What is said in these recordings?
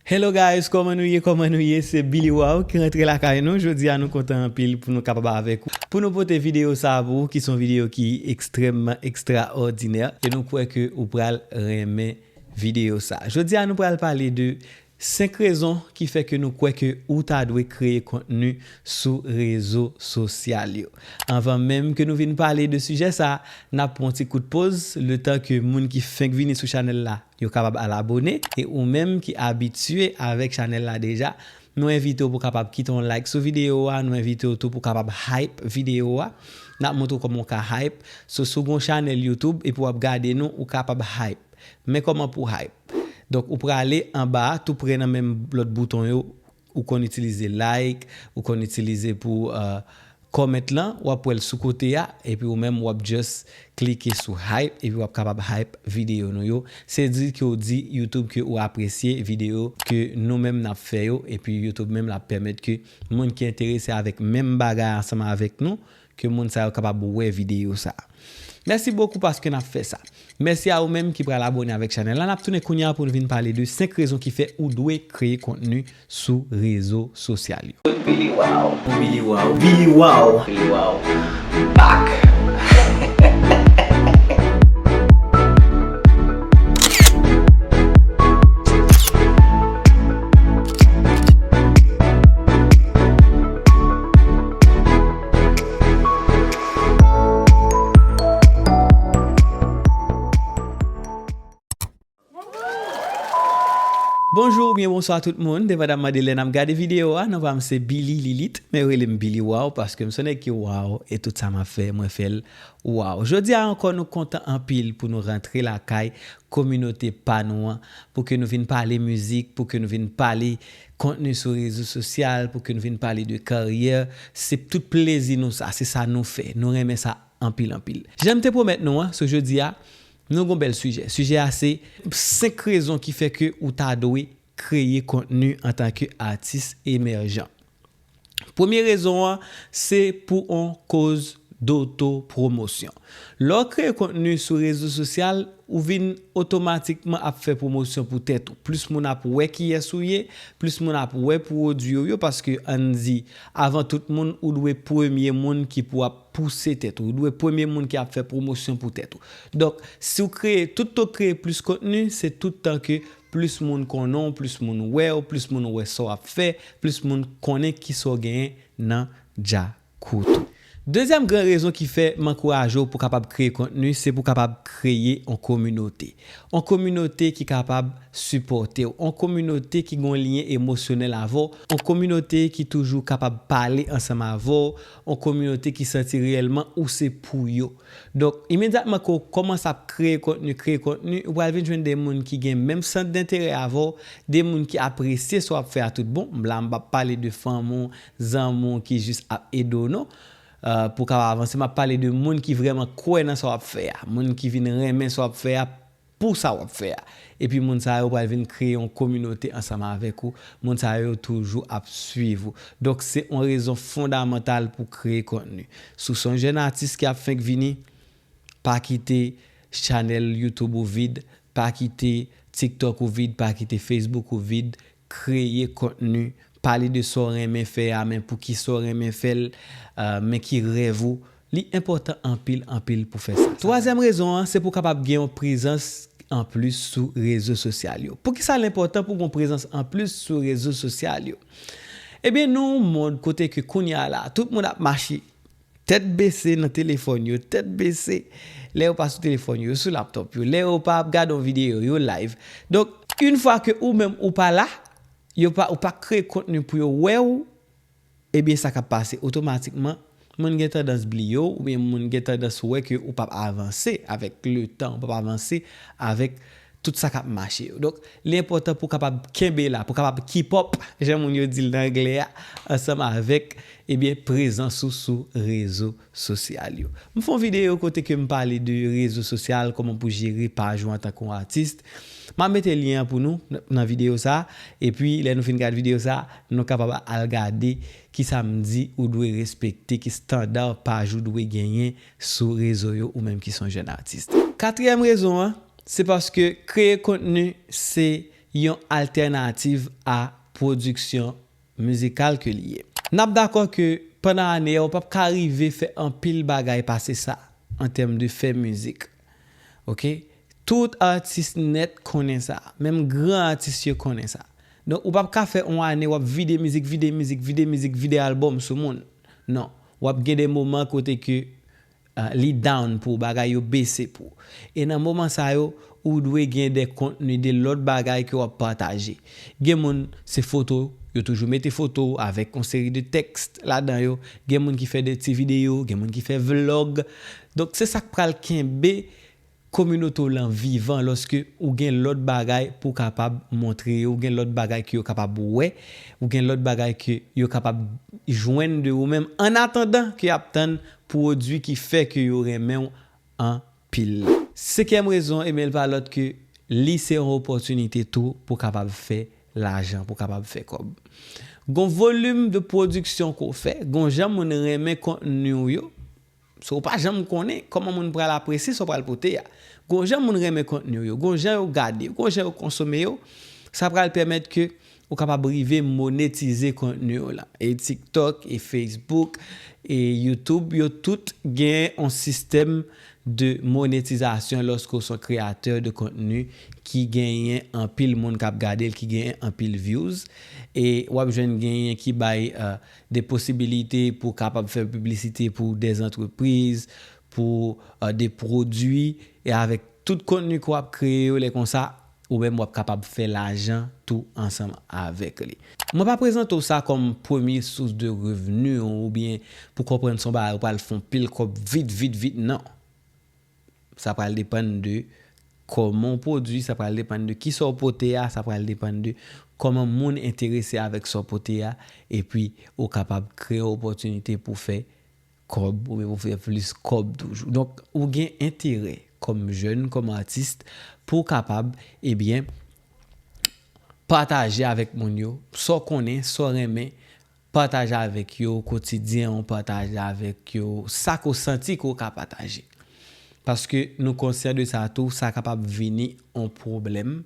Hello guys kòman nou ye kòman nou ye se Billy Waw ki rantre lakay nou jodi a nou kontan anpil pou nou kapab avèk ou pou nou pote videyo sa pou ou ki son videyo ki ekstrèmman ekstraòdinè e nou kwè ke ou pral renmen videyo sa jodi a nou pral pale de 5 rezon ki fè ke nou kwè ke ou ta dwe kreye kontni sou rezo sosyal yo anvan menm ke nou vin pale de sijè sa nap pran yon ti kout poz letan ke moun ki fenk vini sou chanèl la. Yo kapab al abone e ou menm ki abitye avèk chanèl la deja nou envite w pou kapab kite yon like sou video a nou envite w tou pou kapab hype video a nap montre w kòman w ka hype so si w gon chanèl YouTube epi wap gade nou ou kapab hype men kòman pou hype donk ou prale anba a tou prè nan menm lòt bouton yo Ou konn itilize like, ou konn itilize pou comment lan, wap wèl sou kote a, epi ou menm wap just klike sou hype epi wap kapab hype video nou yo, se di ke ou di youtube ke ou apresye video ke nou menm nap fè yo, epi youtube menm lap pèmèt ke moun ki enterese avèk menm bagay ansanm avèk nou Ke moun sa yo kapab wè video sa. Mèsi bokou paske nap fè sa. Mèsi a ou menm ki pral abone avèk chanèl la nap tounen kounya poun vin pale de 5 rezon ki fè ou dwe kreye kontni sou rezo sosyal yo. Billy Wao Billy Wao Billy Wao Billy Wao back. Bonjou oubyen bonswa tout moun, depandan mande lè nap gade video a, nan pam se Billy Lilith, men yo rele m Billy Waw paske m son nèg ki waw e tout sa map fè mwen fèl waw. Jodi a ankò nou kontan anpil pou nou rantre lakay kominote pa nou an, pou ke nou vin pale mizik, pou ke nou vin pale Kontni sou rezo sosyal pou ke n vin pale de karyè, se p tout plezi nou sa, se sa nou fè, nou renmen sa anpil anpil. Jan m te pwomèt nou an, sou jodi a, nou gon bèl sijè. Sijè a se, 5 rezon ki fè ke ou ta dwe kreye kontni antanke atis emèjan. Premye rezon an se pou on koz dotopromosyon. Lè w kreye kontni sou rezo sosyal, ou vin otomatikman ap fè pwomosyon pou tèt ou. Plis moun ap wè kiyès ou ye, plis moun ap wè pwodui w yo paske ann di, avan tout moun, ou dwe premye moun ki pou ap pouse tèt ou, ou dwe premye moun ki ap fè pwomosyon pou tèt ou. Donk, si w kreye, tout tan w kreye plis kontni, se tout tan ke Plis moun konnen w, plis moun wè w, plis moun wè sa w ap fè, plis moun konnen ki sa w genyen nan Djakout ou. Dezyèm gran rezon ki fè m ankouraje w pou w kapab kreye kontni, se pou w kapab kreye yon kominote. Yon kominote ki kapab sipòte w, yon kominote ki gen yon lyen emosyonèl avè w, yon kominote ki toujou kapab pale ansanm avè w, yon kominote ki santi reyèlman ou se pou yo. Donk, imedyatman ke w kòmanse ap kreye kontni, kreye kontni, ou pral vin jwenn de moun ki gen menm sant denterè avè w, de moun ki apresye sa w ap fè a tout bon. M la m pa p pale de fanmi w, zanmi w ki jis ap ede w non, pou w kapab avanse. M ap pale de moun ki vrèman kwè nan sa w ap fè a, moun ki vin renmen sa w ap fè a Pou sa wap fè a. Epi moun sa yo pral vin kreye yon kominote ansanm avèk ou, moun sa yo yo toujou ap swiv ou. Donk se yon rezon fondamantal pou kreye kontni. Si w se yon jèn atis ki ap fenk vini, pa kite chanèl youtube ou vid, pa kite tiktok ou vid, pa kite facebook ou vid, Kreye kontni, pale de sa w renmen fè a men poukisa w renmen fè l, men ki rèv ou, li enpòtan anpil anpil pou fè sa. Twazyèm rezon an, se pou w kapab gen yon prezans anplis sou rezo sosyal yo. Poukisa l enpòtan pou w gen yon prezans anplis sou rezo sosyal yo? Ebyen nou yon mond kote ke kounya la tout moun ap mache. Tèt bese nan telefòn yo, tèt bese lè yo pa sou telefòn yo, yo sou laptop yo, lè yo pa ap gade yon videyo, yo live. Donk, une fwa ke ou menm ou pa la, yo pa, ou pa kreye kontni pou yo wè ou, ebyen sa k ap pase otomatikman, moun gen tandans bliye ou, oubyen moun gen tandans wè ke ou p ap avanse avèk le tan, ou p ap avanse avèk Tout sa k ap mache yo. Donk, li enpòtan pou w kapab kenbe la, pou w kapab keep up, jan moun yo di l nan anglè a, ansanm avèk, ebyen, prezans ou sou rezo sosyal yo. M fè yon videyo kote ke m pale de rezo sosyal, kòman pou jere paj ou antanke yon atis. M ap mete lyen an pou nou nan videyo sa a. Epi, lè nou fin gad videyo sa a, nou kapab al gade ki sa m di ou dwe respekte, ki standard paj ou dwe genyen sou rezo yo, ou menm ki s on jèn atis. Katriyèm rezon an, Se paske kreye kontni se yon altènativ a pwodiksyon mizikal ke li ye. N ap dakò ke pandan ane a ou p ap ka rive fè anpil bagay pase sa an tèm de fè mizik. Ok. Tout atis nèt konnen sa. Menm gran atis yo konnen sa. Donk ou p ap ka fè on ane w ap vide mizik, vide mizik, vide mizik, vide albòm sou moun. Non. W ap gen de moman kote ke Li down pou bagay yo bese pou. E nan moman sa yo, ou dwe gen de kontni, de lòt bagay ke wap pataje. Gen moun, se foto, yo toujou mete foto w avèk yon seri de tèks ladan yo. Gen moun ki fè de ti videyo, gen moun ki fè vlog. Donk se sak pral kenbe Kominote w lan vivan lòske ou gen lòt bagay pou w kapab montre yo, ou gen lòt bagay ke yo kapab wè, ou gen lòt bagay ke yo kapab jwenn de ou menm an atandan ke y ap tann pwodui ki fè ke yo renmen w anpil la. Senkyèm rezon, ebyen l pa lòt ke li se yon opòtinite tou pou w kapab fè lajan, pou w kapab fè kòb. Gon volim de pwodiksyon ke w fè, gon jan moun renmen kontni w yo, So ou pa janm konnen kòman moun pral apresye sa w pral pote a. Gon jan moun renmen kontni w yo, gon jan yo gade, gon jan yo konsome yo, sa pral pèmèt ke ou kapab rive monetize kontni w lan. E TikTok, e Facebook, e YouTube yo tout gen yon sistèm de monetizasyon lòske ou se yon kreyatè de kontni ki genyen anpil moun k ap gade l, ki genyen anpil views. E w ap jwenn genyen ki bay. de posibilite pou kapab fè piblisite pou de antrepriz, pou de pwodui, e avèk tout kontni ke w ap kreye yo lè konsa, ou menm w ap kapab fè lajan tou ansanm avèk li. Mwen pa prezante w sa kòm premye sous de revni w oubyen pou konprann se yon bagay ou pral fè yon pil kòb vit vit vit nan. sa pral depann de kòman w pwodui, sa pral depann de ki sa w pote a, sa pral depann de kòman moun enterese avèk sa w pote a, epi ou kapab kreye opòtinite pou fè kòb oubyen pou fè plis kòb toujou. Donk, ou gen enterè kòm jèn, kòm atis pou w kapab, ebyen, pataje avèk moun yo sa w konnen, sa w renmen, Pataje avèk yo kotidyen w, pataje avèk yo sa ke w santi ke w ka pataje. Paske nou konsyan de sa tou, sa kapab vini yon pwoblèm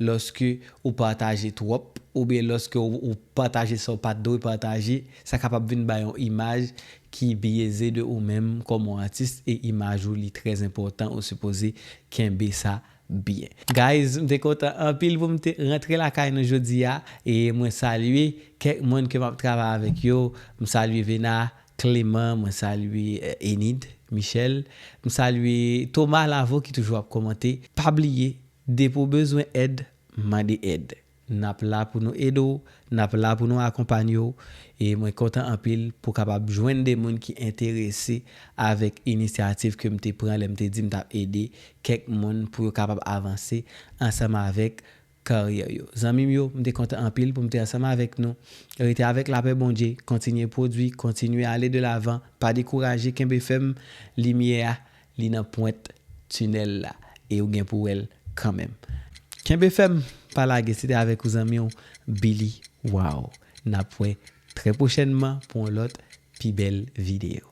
lòske ou pataje twòp oubyen lòske ou pataje sa w pa t dwe pataje, sa kapab vin bay yon imaj ki byeze de ou menm kòm yon atis e imaj ou li trè enpòtan ou sipoze kenbe sa byen. Guys m te kontan anpil pou m te rantre lakay nou jodi a e mwen salye kèk moun ke map travay avèk yo m salye Vena Clément mwen salye Enid Michel m salye Thomas Lavo ki toujou ap komante pa bliye depi w bezwen èd mande èd. N ap la pou nou ede w, n ap la pou nou akonpanye w e mwen kontan anpil pou kapab jwenn de moun ki enterese avèk inisyativ ke m te pran lè m te di m t ap ede kèk moun pou yo kapab avanse ansanm avèk karyè yo. Zanmi m yo, m te kontan anpil pou m te ansanm avèk nou. Rete avèk lapè Bondye, kontinye pwodui, kontinye ale de lavan, pa dekouraje, kenbe fèm, limyè a Li nan pwent tunnel la e ou gen pou wèl kanmenm. Kenbe fèm pa lage se te avèk ou zanmiw Billy waww nap wè trè pwochènman pou yon lòt pi bèl video.